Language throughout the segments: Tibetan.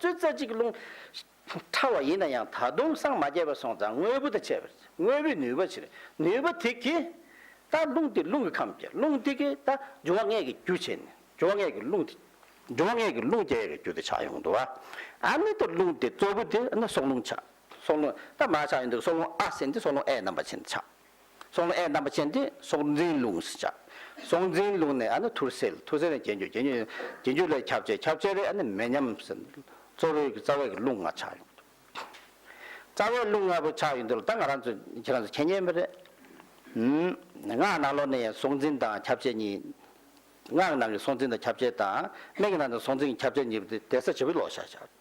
བཙོད་རྩ་གཅིག་རླུང་ཕྲ་བ་ཡིན་ན་ཡང་ད་དུང་སྲང་མ་བརྒྱད་པ་སོང་ཙང་དངོས་པོ་དང་བཅས་པར་དངོས་པོའི་ནུས་པ་ཕྱིར་ནུས་པ་དེ་གིས་ད་རླུང་དེ་རླུང་གི་ཁམས་བསྐྱེད་རླུང་དེ་གིས་ད་འབྱུང་བ་ལྔའི་གི་རྒྱུ་བྱེད་ནས་འབྱུང་བ་ལྔའི་གི་རླུང་དེ་འབྱུང་བ་ལྔའི་གི་རླུང་བསྐྱེད་ཡོད་རྒྱུ་དེ་ཆགས་ཡོང་འདུག་ཨ་ནི་ད་རླུང་དེ་གཙོ་བོ་དེ་ཨ་ནི་སྲོག་རླུང་ཆགས་སྲོག་རླུང་ད་མ་ཆགས་ཡོང་འདུག་སྲོག་རླུང་ཨ་ཟིན་ཏེ་སྲོག་རླུང་ཨའི་རྣམ་པ་ཅན་ཆགས། སྲོག་ལ་ཨེ་རྣམ་པ་ཅན་དེ་སྲོག་འཛིན་ལུགས་སུ་བྱ། སྲོག་འཛིན་ལུགས་ནས་ཨ་ནི་ཐུར་སེལ་ཐུར་སེལ་ནས་གྱེན་རྒྱུ་གྱེན་རྒྱུ་ནས་གྱེན་རྒྱུ་ལས་ཁྱབ་བྱེད་ཁྱབ་བྱེད་ལས་ཨ་ནི་མེ་མཉམ་སེལ། གཙོ་བོའི་རྩ་བའི་ཀླུ་ལྔ་ཆགས་ཡོང། རྩ་བའི་ཀླུ་ལྔ་པོ་ཆགས་ཡོང་དུས་ལ་ད་ང་རང་ཚོ་ཁྱེད་རང་ཚོ་མཁྱེན་ཉན་པ་རེད། སྔགས་ནང་ལོགས་ནས་སྲོག་འཛིན་དང་ཁྱབ་བྱེད་གཉིས། སྔགས་ནང་གི་སྲོག་འཛིན་དང་ཁྱབ་བྱེད་དང་སྨན་གྱི་ནང་དུ་སྲོག་འཛིན་གྱི་ཁྱབ་བྱེད་གཉིས་པོ་དེ་དེ་ས་བྱི་བའི་ལོགས་བཞག་བྱ།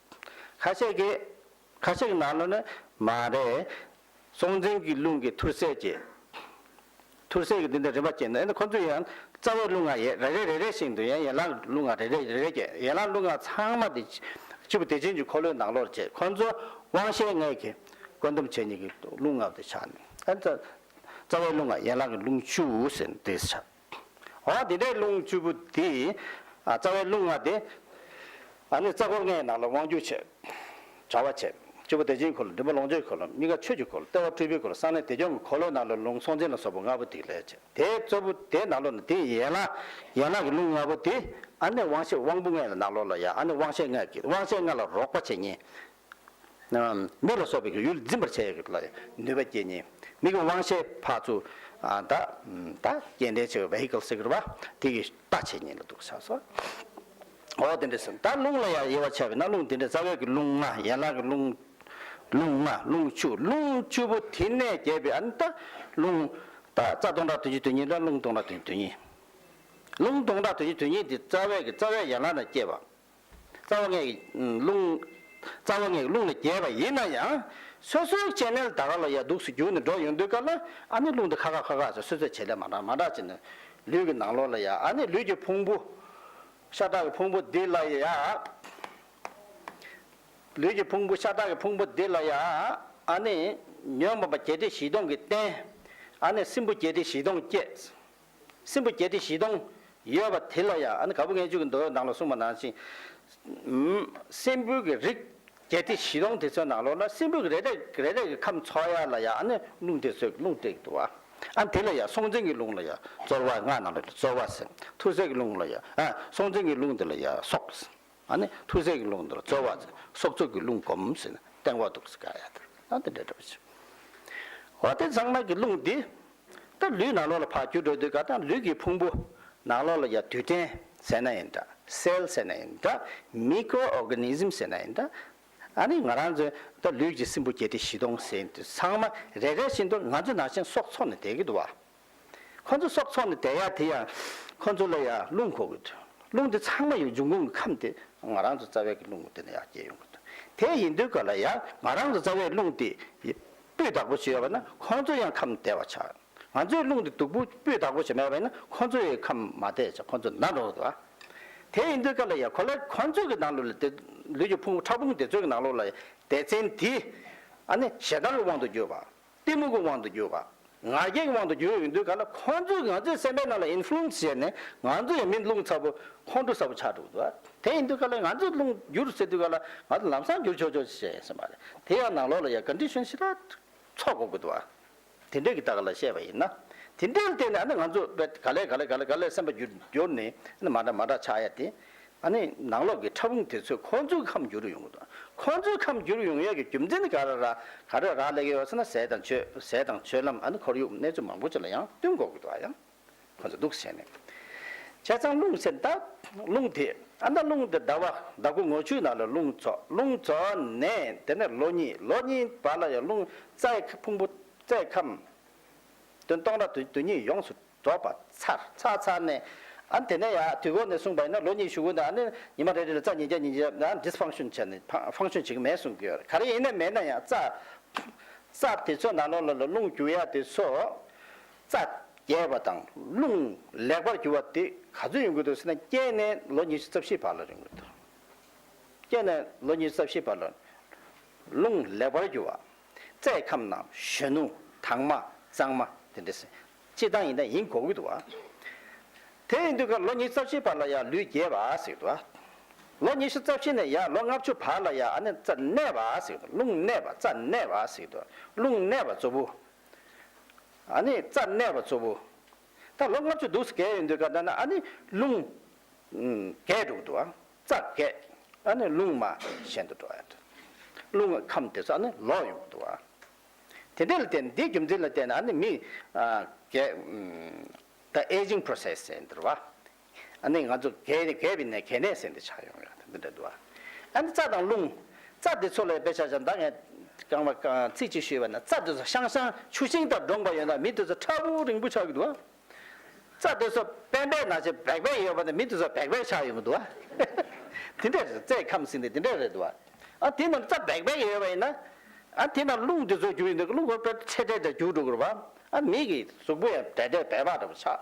ཁ་ཤས་ཀྱིས། ཁ་ཤས་ཀྱི་ནང་ལོགས་ནི། མ་རེད། སྲོང་བཙན་གྱི་རླུང་གི་ཐུར་སེལ་གྱིས། ཐུར་སེལ་གྱིས་འདི་འདྲ་རིམ་པ་བསྐྱེད་འདུག་ཨེ་ན་ཁོ་ཚོས་ཡང། རྩ་བའི་རླུང་ལྔ་ཡན་རེ་རེ་རེ་རེ་ཞིག་འདུག་ཡང་ཡན་ལག་རླུང་ལྔ་རེ་རེ་རེ་རེ་བསྐྱེད་ཡན་ལག་རླུང་ལྔ་ཚང་མ་དེ། སྤྱི་བོ་བདེ་ཆེན་གྱི་འཁོར་ལོའི་ནང་ལོགས་བསྐྱེད་ཁོ་ཚོ་དབང་ཤེས་ལྔས་གྱིས། བཀོད་འདོམས་བྱེད་གཉིས་ཀྱི་རླུང་ལྔ་དེ་ཆགས་ནས། ཨེ་ན། རྩ་བའི་རླུང་ལྔ་ཡན་ལག་གི་རླུང་བཅུ་ཟེར་ནས་དེ་ཆགས། འོང་དེ་འདྲའི་རླུང་བཅུ་པོ་དེས། རྩ་བའི་རླུང་ལྔ་དེ། ཨ་ནི་རྩ་འཁོར་ལྔའི་ནང་ལ་དབང་བསྒྱུར་བྱེད། དྲ་བ་བྱེད། བཅུ་པོ་བདེ་ཆེན་འཁོར་ལོ་མགྲིན་པ་ལོངས་སྤྱོད་འཁོར་ལོ་གཉིས་ཀ་ཆོས་ཀྱི་འཁོར་ལོ་ལྟེ་བ་སྤྲུལ་པའི་འཁོར་ལོ་གསང་གནས་བདེ་སྐྱོང་གི་འཁོར་ལོའི་ནང་ལ་རླུང་སྲོང་བཙན་ལ་སོགས་པ་ལྔ་པོ་དེའི་ལས་བྱེད། དེའི་གཙོ་བོ་དེའི་ནང་ལོགས་ན་དེ་ཡན་ལག། ཡན་ལག་གི་རླུང་ལྔ་པོ་དེ། ཨ་ནི་དབང་ཤེས་དབང་པོ་ལྔའི་ནང་ལོགས་ལ་ཡང་ཨ་ནི་དབང་ཤེས་ལྔ། དབང་ཤེས་ལྔ་ལ་རོགས་པ་བྱེད་ཉིད། མེ་ལ་སོགས་པའི་ཡུལ་འཛིན་པར་བྱ་ཡི། ནུས་པ་བསྐྱེད་ནས་མིག་གི་དབང་ཤེས་འཕགས་ཚུལ། སྐྱེ་འབྲས་ཆེ་བའི vehicle སེ་གོལ་བ། དེ་ཡི་རྟག་ཆད་ཉིད་ལ་འདུག་བྱ་སོ། འོ་དེ་འདྲས་སམ། ད་རླུང་ལ་ཡང་དབྱེ་བ་ཆ་བས་ན་རླུང་དེ་འདྲས་རྩ་བའི་རླུང་ལྔ་ཡན་ལག་གི་རླུང། རླུང་ལྔ་རླུང་བཅུ་རླུང་བཅུ་པོ་དེ་ནས་གྱེས་པའི་རླུང། རྩ་སྟོང་ཕྲག་དོན་བཞི་དོན་གཉིས་དང་རླུང་སྟོང་ཕྲག་དོན་བཞི་དོན་གཉིས། རླུང་སྟོང་ཕྲག་དོན་བཞི་དོན་གཉིས་དེ་རྩ་བའི་རྩ་བའི་ཡན་ལག་ན་སྐྱེས་པ། རྩ་བ་ལྔས་རླུང། རྩ་བ་ལྔས་རླུང་ལ་རྒྱས་པ་ཡིན་ན་ཡང། སོ་སོའི་སྐྱེ་གནས་ལ་ད་ག་ལ་ཡ་དུགས་སུ་གྱུར་ནས་འགྲོ་ཡོང་དུས་སྐབས་ལ་ཨ་ནི་རླུང་དེ་ཁ་ཁ་ཁ་ཁ་ཟེར་སོད་སོད་བྱེད་ལས་མ་འདྲ་མ་འདྲ་བྱེད་ནས། ལུས་ཀྱི་ནང་ལོགས་ལ་ཡ་ཨ་ནི་ལུས་ཀྱི་ཕུང་པོ། ཤ་ཁྲག་གི་ཕུང་པོ་འདི་ལ་ཡ། ལུས་ཀྱི་ཕུང་པོ་ཤ་ཁྲག་གི་ཕུང་པོ་འདི་ལ་ཡ་ཨ་ནི། ཉོན་མོངས་པ་བརྒྱད་ཁྲི་བཞི་སྟོང་གི་རྟེན། ཨ་ནི་སྲིན་པོ་བརྒྱད་ཁྲི་བཞི་སྟོང་བསྐྱེད། སྲིན་པོ་བརྒྱད་ཁྲི་བཞི་སྟོང། ཡོད་པ་དེ་ལ་ཡང་ག་བུ་ལྔས་བཅུ་གི་མདོའི་ནང་ལ་གསུངས་པ་ནང་བཞིན། སྲིན་པོའི་གི་རིགས་བརྒྱད་ཁྲི་བཞི་སྟོང་དེ་ཚོའི་ནང་ལོགས་ན་སྲིན་པོའི་གི་རེ་རེ་རེ་རེ་གི་ཁམས་ཚོགས་ཡར་ལ་ཡང་རླུང་དེ་ཚོའི་རླུང་སྟེགས་དུ་བ། དེ་ལ་ཡང་སྲོང་བཙན་གྱི་རླུང་ལ་ཡང་རྩོལ་བ་སྔགས་རྣམས་ལ་རྩོལ་བ། ཐུར་སེལ་གྱི་རླུང་ལ་ཡང་སྲོང་བཙན་གྱི་རླུང་དེ་ལ་ཡང་སྲོག། ཨ་ནི་ཐུར་སེལ་གྱི་རླུང་དང་རྩོལ་བ་ནི་སྲོག་རྩོལ་གྱི་རླུང་བསྒོམ་ཟིན་ན་སྟེང་འོག་ཏུ་ག་ཡ་དང་ཨ་དང་འདྲེས་འགྲོ་བའི་ཕྱིར། འོ་དེ་གཙང་མ་གི་རླུང་འདི་ལྟར་ལུས་ནག་ལོགས་ལ་འཕགས་འགྱུར་འགྲོ་དུས་ག་དང་ལུས་ཀྱི་ཕུང་པོ་ནག་ལོགས་ལ་ཡ་དུས་སྐྲན་ཟེར་ན་ཡིན་འདྲ་སེལ་ཟེར་ན་ཡིན་འདྲ Micro Organism ཟེར་ན་ཡིན་འདྲ་ཨ་ནི་ང་རང་ཚོའི་ལྟར་ལུས་ཀྱི་སྲིན་བུ་བརྒྱད་ཁྲི་བཞི་སྟོང་ཟིན་དུས་ཚང་མ་རེ་རེ་བཞིན་དུ་ང་ཚོའི་ནང་བཞིན་སྲོག་འཚོ་ནས་བསྡད་ཀྱི་འདུག་བ། ཁོ་ཚོ་སྲོག་འཚོ་ནས་བསྡད་ཡ་དེ་ཡང་ཁོ་ཚོ་ལ་ཡང་རླུང་འཁོར་གི་འདུག་རླུང་དེ་ཚང་མ་ཡང་འབྱུང་ཁུངས་ཀྱི་ཁམས་དེ་ང་རང་ཚོའི་རྩ་བའི་རླུང་དེ་ནས་ཡང་སྐྱེས་ཡོང་གི་འདུག་དེ་ཡིན་དུས་ག་ལ་ཡང་ང་རང་ཚོའི་རྩ་བའི་རླུང་དེ་སྤུས་དག་པོ་བྱས་ཡོད་པ་ན་ཁོ་ཚོ་ཡང་ཁམས་བདེ་བ་ཆགས་ང་ཚོའི་རླུང་དེ་སྡུག་པོ་སྤུས་དག་པོ་བྱས་མེད་པ་ཡིན་ན་ཁོ་ཚོ་ཡང་ཁམས་མ་བདེ་ཆགས་ཁོ་ཚོ་ན་འགྲོ་གི་འདུག་དེ་ཡིན་དུས་ག་ལ་ཡང་གོ་ལ་ཁོ་ཚོ་གི་ནང་ལུས་ལ་ལུས་ཀྱི་ཕུང་པོ་ཕྲ་ཕུང་དེ་ཚོའི་ནང་ལོགས་ལ་ཡང་སྡེ་ཚན་དེ་ཨ་ནི་ཞེ་སྡང་གི་དབང་དུ་གྱུར་པ་གཏི་མུག་གི་དབང་དུ་གྱུར། ང་རྒྱལ་གྱི་དབང་དུ་གྱུར་ཡོང་དུས་ག་ལ་ཁོང་ཚོས་ང་ཚོའི་སེམས་པའི་ནང་ལ influence བྱས་ནས་ང་ཚོ་ཡང་མི་རླུང་ཚ་པོ་ཁོང་ཁྲོ་ཚ་པོ་ཆགས་འགྲོ་གི་འདུག་དེ་ཡིན་དུས་ག་ལ་ང་ཚོའི་རླུང་འགྱུར་ཟེར་དུས་ག་ལ་ང་ཚོ་ལམ་སང་འགྱུར་ཆོག་ཆོག་ཅིག་བྱས་ཟིན་པ་རེད་དེ་ཡང་ནང་ལོགས་ལ་ཡང condition ཞིག་ལ་ཚོགས་དགོས་ཀྱི་འདུག་དེ་འདྲས་ཀྱི་ད་ག་ལ་བཤད་པ་ཡིན་ན་དེ་འདྲས་ལ་བརྟེན་ནས་ཨ་ནི་ང་ཚོ་ག་ལས་ག་ལས་ག་ལས་ག་ལས་སེམས་པ་འགྱུར་འགྱུར་ནས་ཨ་ནི་མ་འདྲ་མ་འདྲ་ཆགས་ཡ་དེ་ཨ་ནི་ནང་ལོགས་ཀྱི་ཕྲ་ཕུང་དེ་ཚོས་ཁོང་ཚོའི་ཁམས་བསྒྱུར་ཡོང་གི་འདུག་ཁོང་ཚོའི་ཁམས་བསྒྱུར་ཡོང་ཡས་ཀྱི་རྒྱུ་མཚན་ནི་ག་ར་ར་ག་རོད་རག་ལས་ཀྱི་ཡོད་ས་ན་ཟས་དང་ཆུ་ཟས་དང་ཆུ་ལམ་ཨ་ནི་ཁོར་ཡུག་གནས་ཚུལ་མང་པོ་ཆུ་ལ་ཡང་བསྟུན་འགོག་གི་འདུག་ཨ་ཡང་ཁོ་ཚོ་སྡུག་བསྲན་ནས་བྱས་ཙང་རླུང་ཟེར་མདའ་རླུང་དེ་ཨ་མདའ་རླུང་དེ་ཟླ་བ་ཟླ་དགུ་ངོ་བཅུའི་ནང་ལ་རླུང་ཚོགས་རླུང་ཚོགས་ནས་དེ་ནས་ལོ་གཉིས་ལོ་གཉིས་བར་ལ་ཡང་རླུང་རྩའི་ཕུང་པོ་རྩའི་ཁམས་དོན་སྟོང་ར་དོན་དོན་གཉིས་ཡོངས་སུ། འབྲོག་པ་ཚར་ཚར་ཚར་ནས། ཨ་དེ་ནས་ཡ་དུས་གོང་ནས་གསུངས་པ་ཡིན་ན་ལོ་གཉིས་ཞུ་དགོས་འདུག་ཨ་ནི་ཉི་མ་རེ་རེ་ལ་རྩ་ཉིས་བརྒྱ་ཉིས་བརྒྱ་ཨ Dysfunction བྱས་ནས Function བྱེད་ཀྱི་མེད་གསུངས་ཀྱི་ཡོད། ག་རེ་ཡིན་ནས་མེད་ན་ཡང་རྩ། རྩ་དེ་ཚོ་ནང་ལོགས་ལ་ལ་རླུང་རྒྱུ་ཡ་དེ་ཚོ། རྩ་རྒྱས་པ་དང་རླུང་ལེགས་པར་རྒྱུ་བ་དེ་ག་ཚོད་ཡིན་དགོས་འདུག་ཟེར་ན་སྐྱེས་ནས་ལོ་ཉི་ཤུ་རྩ་བཞི་བར་ལ་རིང་དགོས་འདུག་སྐྱེས་ནས་ལོ་ཉི་ཤུ་རྩ་བཞི་བར་ལ། རླུང་ལེགས་པར་རྒྱུ་བ། རྩའི་ཁམས་ནང་གཞོན་ནུ་དྭངས་མ་གཙང་མ་དེ་འདྲས། སྤྱིར་བཏང་ཡིན་ན་ཡིན་གོ་ཨུད་བ། དེ་ཡིན་དུས་ཀར་ལོ་ཉིས་རྩ་བཞིའི་བར་ལ་ཡང་ལུས་རྒྱས་བ་ཟིག་བ། ལོ་ཉི་ཤུ་རྩ་བཞི་ནས་ཡང་ལོ་ལྔ་བཅུ་བར་ལ་ཡང་ཨ་ནི་རྩ་གནས་བ་ཟིག་རླུང་གནས་བ་རྩ་གནས་བ་ཟིག་དུ་རླུང་གནས་བ་གཙོ་བོ། ཨ་ནི་རྩ་གནས་བ་གཙོ་བོ། ད་ལོ་ལྔ་བཅུ་འདུག་ཟེར་གས་ཡོད་འདུག་ག་ད་ནི་ཨ་ནི་རླུང། རྒས་འགྲོ་གི་འདུག་ཨ་རྩ་རྒས། ཨ་ནི་རླུང་མ་གཞན་དུ་འགྲོ་ཡ་རེད། རླུང་གི་ཁམས་དེ་ཚོ་ཨ་ནི་ལོག་ཡོང་གི་འདུག་ཨ། དེ་འདི་ལ་བལྟས་ན་འདིའི་རྒྱུ་མཚན་ལ་བལྟས་ན་ཨ་ནི་མི། The aging process ཟེར་འདུལ་བ། ཨ་ནི་ང་ཚོ་གས་ནས་གས་པའི་ནས་གས་ནས་ཟེར་འདི་ཆགས་ཡོང་ཡོད་འདི་འདྲ་འདུལ་བ། ཨ་ནི་རྩ་དང་རླུང། རྩ་འདི་ཚོ་ལ་ཡོད་པའི་ཆ་ཆ་འདའ་ངས། རྐང་པ་རྐང་ཚིག་ཅིག་ཞུས་པ་ན་རྩ་འདི་ཚོ་ཤང་ཤང་ཆུ་ཤིང་ལྟར་འདྲོངས་པ་ཡོད་ན་མི་འདི་ཚོ་ཁྲ་བོ་རིང་པོ་ཆགས་ཀྱི་འདུག་ཨ། རྩྭ་དེ་ཚོ་པན་པའི་ནང་ཆེས་བེག་བེག་ཡོད་པ་ནི་མི་དེ་ཚོ་བེག་བེག་ཆགས་ཡོང་གི་འདུག་ཨ། དེ་འདྲས་རེད་རྩྭའི་ཁམས་ཟིན་ཏེ་དེ་འདྲས་རེད་འདུག་ཨ། ཨ་དེ་རྣམས་རྩྭ་བེག་བེག་ཡོད་པ་ཡིན་ན། ཨ་དེ་རྣམས་རླུང་དེ་ཚོ་རྒྱུ་ཡིན་ན་རླུང་དེ་ཚོ་ཚད་དྲེག་དྲེག་རྒྱུག་འགྲོ་དགོས་རེད་པ། ཨ་མིག་གི་གཟུགས་པོ་ཡང་དྲེག་དྲེག་བེག་བག་འདྲ་པོ་ཆགས།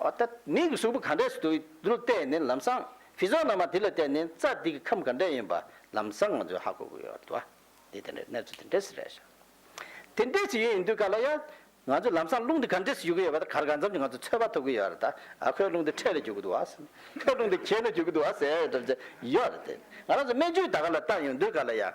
འོ་ད་མིག་གི་གཟུགས་པོ་ག་འདྲས་སུ་འདུག་དེ་ལ་བལྟས་ནས་ལམ་སང་བྷི་ཛོ་ན་མ་དེ་ལ་བལྟས་ནས་རྩྭ་དེ་གི་ཁམས་ག་འདྲས་ཡིན་པ་ལམ་སང་ང་ཚོས་ཧ་གོ་དགོས་ཡོད་འདུག་ཨ། དེ་དེ་འདྲས་གནས་ཚུལ་དེ་འདྲས་སུ་རེད་བྱ། དེ་འདྲས་སུ་ཡོད་ཡིན་དུས་ག་ལ་ཡ། ང་ཚོས་ལམ་སང་རླུང་འདི་ག་འདྲེས་སུ་རྒྱུག་གི་ཡོད་པ་དང་གར་ག་མཚམས་ཀྱི་ང་ཚོས་ཚོད་དཔག་ཐུབ་ཀྱི་ཡོད་རེད་ད། ཨ་ཁོས་རླུང་འདི་འཕྲེད་ལ་རྒྱུག་གི་འདུག་ཨ་ཟེར་ནས། ཁོས་རླུང་འདི་གྱེན་ལ་རྒྱུག་གི་འདུག་ཨ་ཟེར་ཡོད་རེད་ཟེར་གྱི་ཡོད་རེད་དེ། ང་རང་ཚོ་སྨན་བཅོས་ད་ག་ལ་བཏང་ཡོང་དུས་ག་ལ་ཡང།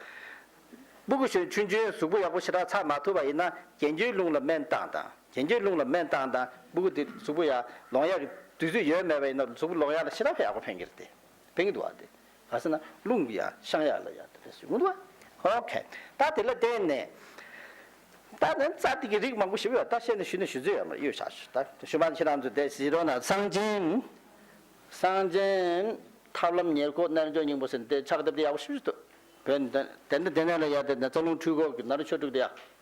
སྤུ་གུ་ཞོན་ཆུན་ཆུན་གཟུགས་པོ་ཡག་པོ་ཞེ་དྲག་ཚགས་མ་ཐུབ་པ་ཡིན་ན་གྱེན་གྱི་རླུང་ལ་སྨན་བཏང་དང་གྱེན་གྱི་རླུང་ལ་སྨན་བཏང་དང་སྤུ་གུ་འདི་གཟུགས་པོ་ཡག་ལོང་ཡག་གི་དུས་ཚོད་ཡོད་མེད་པ་ཡིན་ན་གཟུགས་པོ་ལོང་ཡག་ལ་ཞེ་དྲག་ཡག་པོ་ཕན་གྱི་རེད་དེ། ཕན་གྱི་འདུག་ཨ་དེ། ཨ་སི་ན་རླུང་གི་ཡང་ཤང་ཡག་ལ་ཡག་ཏུ་སུས་མི་འདུག་ཨ་ཨོ་ཁེ། ད་དེ་ལ་བརྟེན་ནས། ད་ནི་རྩ་ཐིག་གི་རིགས་མང་པོ་ཞིབ་ཡོད་ད་བཤད་ནས་ཞུས་ནས་ཞུས་ཚོད་ཡོད་མ་རེད་གཡོལ་བྱ་ཞུས་ད་ཞུས་པ་ནི་ཁྱེད་རང་ཚོས་དེ་ཞིག་རོ་ན་གསང་ཆེན། གསང་ཆེན། ཐབས་ལམ་ཉེར་མཁོ་རྣལ་འབྱོར་སྙིང་པོ་ཟེར་ནས་དེ་ཕྱག་བཏབ་དེ་ཡག་པོ་ཞིབ་ཞུས་ཐོད་བོད་ནས་དེ་ནས་དེ་ནས་ལ་ཡག་དེ་ནས་རྩ་རླུང་འཁྲུལ་འཁོར་གྱི་ནཱ་རོ་ཆོས་དྲུག་དེ་ཡག་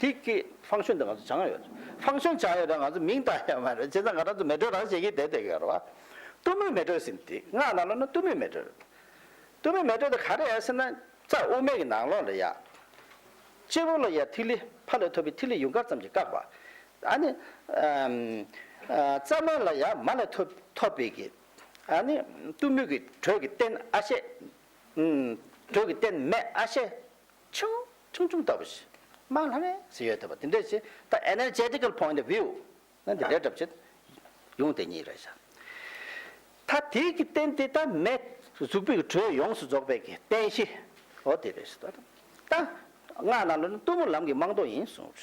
དེ་སྐད་ཧྥང་ཞོན་དེ་ང་ཚོ་བྱང་ཡོད་རེད། ཧྥང་ཞོན་བྱང་ཡོད་རེད་ང་ཚོ་མིང་བཏགས་ཡོད་མ་རེད་བྱས་ཙང་ང་རང་ཚོ་མེ་དྲོད་རང་བྱེད་ཀྱིན་བསྡད་བསྡད་ཡོད་རེད་བ། གཏུམ་མོའི་མེ་དྲོད་ཟེར་འདི་སྔགས་ནང་ལོགས་ན་གཏུམ་མོའི་མེ་དྲོད་རེད། གཏུམ་མོའི་མེ་དྲོད་དེ་ག་རེད་ཟེར་ན་རྩ་དབུ་མེད་ཀྱི་ནང་ལོགས་རེད་ཡ། སྤྱི་བོ་ལ་ཡ་ཐིག་ལེ་ཕ་ལས་ཐོབ་པའི་ཐིག་ལེ་ཡུངས་དཀར་ཙམ་གྱིས་བཀག་པ། ཨ་ནི། རྩ་སྨད་ལ་ཡ་མ་ལས་ཐོབ་ཐོབ་པའི་གི། ཨ་ནི། གཏུམ་མོའི་གི་དྲོད་ཀྱི་རྟེན་ཨ་ཤད། དྲོད་ཀྱི་རྟེན་མེ་ཨ་ཤད། ཆུང། ཆུང་ཆུང་ལྟ་བུ་ཞིག། དམངས་ལྷ་མའི་ཟེར་ཡོད་དོ། དེ་འདྲ་ཞིག་ད Energetical Point of View ནས་འདི་འདྲའི་གྲབས་ཆེ། ཡོང་དེ་གཉིས་རེད་བཞག། ད་དེའི་གི་རྟེན་དེ་ད་མེ་གཟུགས་པོའི་གི་དྲོད་ཡོངས་སུ་རྫོགས་པའི་གི་རྟེན་གཞི། འོ་དེ་རེད་བཞག། ད་སྔགས་ནང་ལོ་ནི་གཏུམ་མོ་ལམ་གི་རྨང་རྡོ་ཡིན་གསུངས།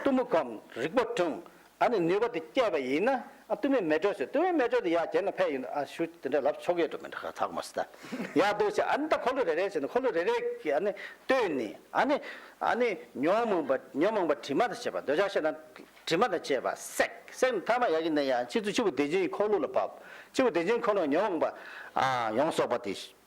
གཏུམ་མོ་གམ་རིག་པ་དྲུང་ཨ་ནི་ནུས་པ་དེ་སྐྱེས་པ་ཡིན་ན་གཏུམ་མོའི་མེ་དྲོད་ཟེར་གཏུམ་མོའི་མེ་དྲོད་དེ་ཡར་གྱེར་ན་ཕལ་ཡིན་ནོ་ཨ་ཞུ་དེ་འདྲ་ལབ་ཆོག་གི་འགྲོ་མི་འདྲ་ག་ཐག་མ་སྲིད་ད་ཡག་འདུག་བྱས་ཨ་ནི་ད་འཁོར་ལོ་རེ་རེ་བྱས་ན་འཁོར་ལོ་རེ་རེ་གི་ཨ་ནི་ལྟོས་ནི་ཨ་ནི་ཨ་ནི་ཉོན་མོངས་པ་ཉོན་མོངས་པ་དྲི་མ་དང་བཅས་པ་འདོད་ཆགས་ཤེས་ན་དྲི་མ་དང་བཅས་པ་བསྲེག་བསྲེག་ནས་ཐ་མ་ཡག་གི་ནི་ཡང་ཕྱིས་སུ་ཕྱི་བོ་བདེ་ཆེན་གྱི་འཁོར་ལོ་ལ་བབས་ཕྱི་བོ་བདེ་ཆེན་འཁོར་ལོ་ཉོན་མོངས་པ་ཡོངས་རྫོགས་པ་དེ།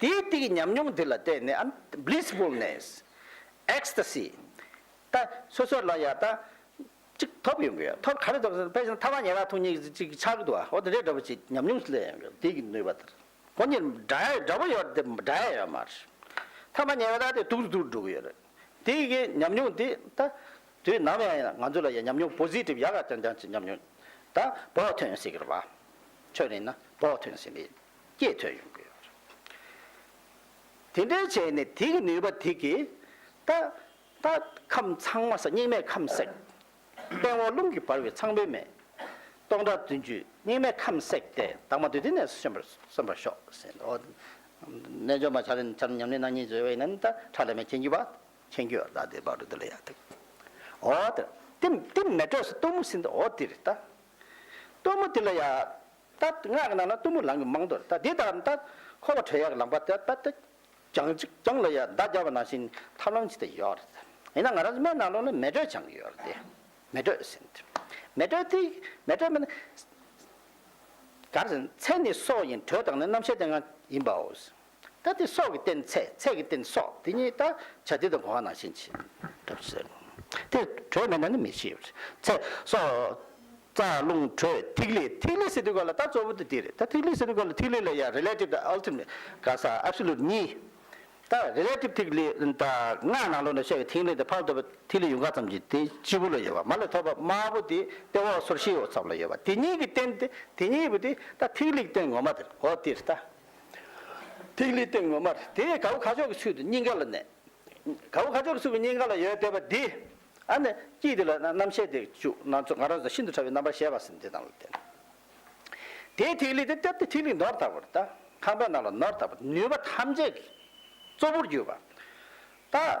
དེའི་སྟེ་ཀྱི་ཉམས་མྱོང་འདི་ལ་བརྟེན་ནས་ཨན། Blissfulness། Ecstasy། ད་སོ་སོར་ལ་ཡང་ད། གཅིག་ཐོབ་ཡོང་གི་ཡོད་ཐོབ་ག་རེ་ཐོབ་ཟེར་ན་ཕལ་ཆེར་ཐ་མ་ཉེ་རག་ཐུག་གཉིས་ཀྱི་གཅིག་ཆགས་ཀྱི་འདུག་ཨ་འོ་དེ་འདྲའི་འདྲ་པོ་ཅིག་ཉམས་མྱོང་སུ་ལེན་ཡོང་གི་ཡོད་དེ་ཀྱི་ནུས་པ་ལྟར། ཁོ་གཉིས་འདྲ་ཡ་འདྲ་པོ་ཡོད་དེ་འདྲ་ཡ་ཡོད་མ་རེད། ཐ་མ་ཉེ་རག་དེ་དུག་རུ་དུག་རུ་འགྲོ་གི་ཡོད་རེད། དེ་ཀྱི་ཉམས་མྱོང་དེ་ད། དུས་ནམ་ཡང་ཡང་ང་ཚོ་ལ་ཡང་ཉམས་མྱོང Positive ཡག་ཡག་རྐྱང་རྐྱང་ཅིག་ཉམས་མྱོང། ད་བོགས་ཐོན་ཡོང་སྲིད་ཀྱི་རེད་བ། ཁྱོད་རིང་ན་བོགས་ཐོན་ཡོང་སྲིད་ཀྱི་རེད། སྐྱེད་ཐོན་ཡོང་གི་ཡོད་རེད། དེ་འདྲའི་བྱས་ནས་དེ་གི་ནུས་པ་དེ་གི་ད་ད་ཁམས་ཚང་མ་སྙིགས་མའི་ཁམས་བསྲེགས། སྟེང་འོག་རླུང་གིས་འབར་བའི་ཚངས་པའི་མེ། སྟོང་ཕྲག་བདུན་ཅུའི་སྙིགས་མའི་ཁམས་བསྲེགས་ཏེ་དྭངས་མ་དུས་དེ་ནས་སོན་པར་གསོན་པར་ཤོག་ཟེར་ནས་འོ། རྣལ་འབྱོར་མ་བྱ་རན་ཅམ་ཉམས་ལེན་སྣང་གཉིས་བཟོད་བས་ན་ད་ཁྲག་ལས་མེ་མཁྱེན་གྱི་བ་མཁྱེན་གྱི་བ་ད་དེ་བ་རུ་འདི་ལ་ཡ་ཐུག། འོ་དེ་དེ་མེ་དྲོས་སུ་གཏུམ་མོ་སྲིན་འདི་འོ་དེ་རི་ད་གཏུམ་མོ་དེ་ལ་ཡ། ད་སྔགས་ཀྱི་ནང་ན་གཏུམ་མོ་ལང་གི་མང་དོ། ད་དེ་དག་ད་འཁོར་བ་དྲོད་ཡག་གི་ལང་པ་ད་ད་ཀྱང་ཅིག་ཀྱང་ལོ་ཡག་ཟླ་བརྒྱ་བ་ནང་བཞིན་ཐབས་ལམ་ཅི་ད་ཡོད་རེད། ཡིན་ན་ང་རང་སྨན་ནང་ལོག་ན་མེ་དྲོད་ཆང་གི་ཡོད་རེད། མེ་དྲོད་ཟིན། མེ་དྲོད་དེ་མེ་དྲོད་མིན། ག་རེ་ཟིན་མཚན་ནི་སྲོག་ཡིན་དྲོད་དང་ནི་རྣམ་ཤེས་དེ་འང་ཡིན་པའོ། ད་སྟེ་སྲོག་གི་རྟེན་ཚད་ཚད་ཀྱི་རྟེན་སྲོག་དེ་ཉིད་ད་བྱ་དེ་དང་གོ་བ་ན་ཕྱིན་ཅི་ལྟར་བྱེད་ཟེར། དེ་དྲོད་མེད་ན་ནི་མེ་ཤེས་པར་ཚད་སྲོག་རྩ་རླུང་དྲོད་ཐིག་ལེ་ཐིག་ལེ་ཟེར་དུས་གོ་ལ་ད་གཙོ་བོ་དེ་དེ་རེད་ད་ཐིག་ལེ་ཟེར་དུས་གོ་ལ་ཐིག་ལེ་ལ་ཡང Relative དང Ultimate ག་ས Absolute གཉིས་ད Relative ཐིག་ལེ་ད་སྔགས་ནང་ལུགས་ནས་བཤད་པའི་ཐིག་ལེ་དེ་ཕར་ལྡོག་པའི་ཐིག་ལེ་ཡུངས་དཀར་ཙམ་གྱི་དེ་སྤྱི་བོ་ལ་ཡོད་པ་མ་ལས་ཐོག་པ་དམར་པོ་དེ་ལྟེ་འོག་སོར་བཞིའི་འོག་ཚབ་ལ་ཡོད་པ་དེ་ཉིད་ཀྱི་རྟེན་དེ་དེ་ཉིད་བུ་དེ་ད་ཐིག་ལེ་ཀྱི་རྟེན་ངོ་མ་དེར་འོ་དེར་ད་ཐིག་ལེའི་སྟེང་ངོ་མར་དེ་ཡི་ག་བུ་ཁ་ཕྱོགས་ཀྱི་ཚུལ་དུ་སྙིང་ག་ལ་གནས། ག་བུ་ཁ་ཕྱོགས་ཀྱི་ཚུལ་དུ་སྙིང་ག་ལ་ཡོད་བལྟས་པ་འདི། ཨ་ནི་དཀྱིལ་འདི་ལ་རྣམ་ཤེས་དེ་བཅུག་ན་ཚོགས་ང་རོ་དང་ཤིན་ཏུ་ཕྲ་བའི་རྣམ་པར་ཤེས་པ་སེམས་དེ་དང་ལ་བརྟེན། དེས་ཐིག་ལེ་དེ་བཏབ་སྟེ་ཐིག་ལེ་ནོར་དག་པར་དང་ཁང་པའི་ནང་ལ་ནོར་དག་པར་ནུས་པ་ཐམས་ཅད་ཀྱི་གཙོ་བོར་གྱུར་པ་དང།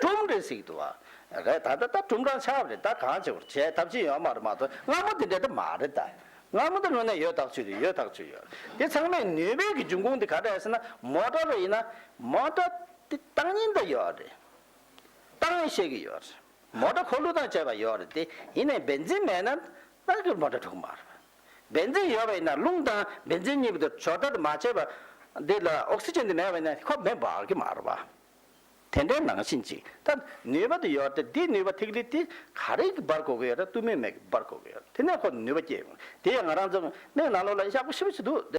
ཀྲུམ་རེ་ཟིག་འདུག་བ་རེད་ད་ད་ད་ཀྲུམ་སྦྲང་ཆགས་རེད་ད་གང་བྱེད་པར་བྱས་ཐབས་ཅི་ཡོད་མ་རེད་མ་གཏོགས་སྔ་མོ་དེ་འདྲ་ད་མ་རེད་ད་སྔ་མོ་དེ་དངོས་གནས་ཡོད་ཐག་ཆོད་རེད་ཡོད་ཐག་ཆོད་ཡོད་དེ་ཚང་མས་ནུས་པའི་གི་འབྱུང་ཁུངས་དེ་ག་རེད་ཟེར་ན་མོ་ཏྲ་རེད་ཡིན་ན་མོ་ཏྲ་དེ་ཏང་ཡིན་ད་ཡོད་རེད་ཏང་ཡིན་བཤད་གི་ཡོད་རེད་མོ་ཏྲ་འཁོར་ལོ་དང་བཅས་པ་ཡོད་རེད་དེ་ཡིན་ནས་བེན་ཛིན་མེད་ན་ད་གི་མོ་ཏྲ་འཁྲུག་མ་རེད་བེན་ཛིན་ཡོད་པ་ཡིན་ན་རླུང་དང་བེན་ཛིན་གཉིས་པོ་དེ་ཕྱོགས་བསྡུར་མ་བྱས་པ་འདི་ལ་ཨོག་སི་ཅན་དེ་མེད་པ་ཡིན་ན་ཁོ་མེ་འབར་གི་མ་རེད་བ། དེ་འདྲའི་ནང་བཞིན་ཅིག་ད་ནུས་པ་དེ་ཡོད་དེ་འདིས་ནུས་པ་ཐིག་ལེ་དེ་ག་རེ་གིས་སྦར་དགོས་ཀྱི་ཡོད་རེད་གཏུམ་མོའི་མེ་གིས་སྦར་དགོས་ཀྱི་ཡོད་རེད་དེ་ནས་ཁོ་ནུས་པ་སྐྱེས་ཡོང་གི་རེད་དེ་ཡང་ང་རང་ཚོ་མིག་ནང་ལོག་ལ་ཡག་པོ་ཤི་བོ་ཞིག་འདུག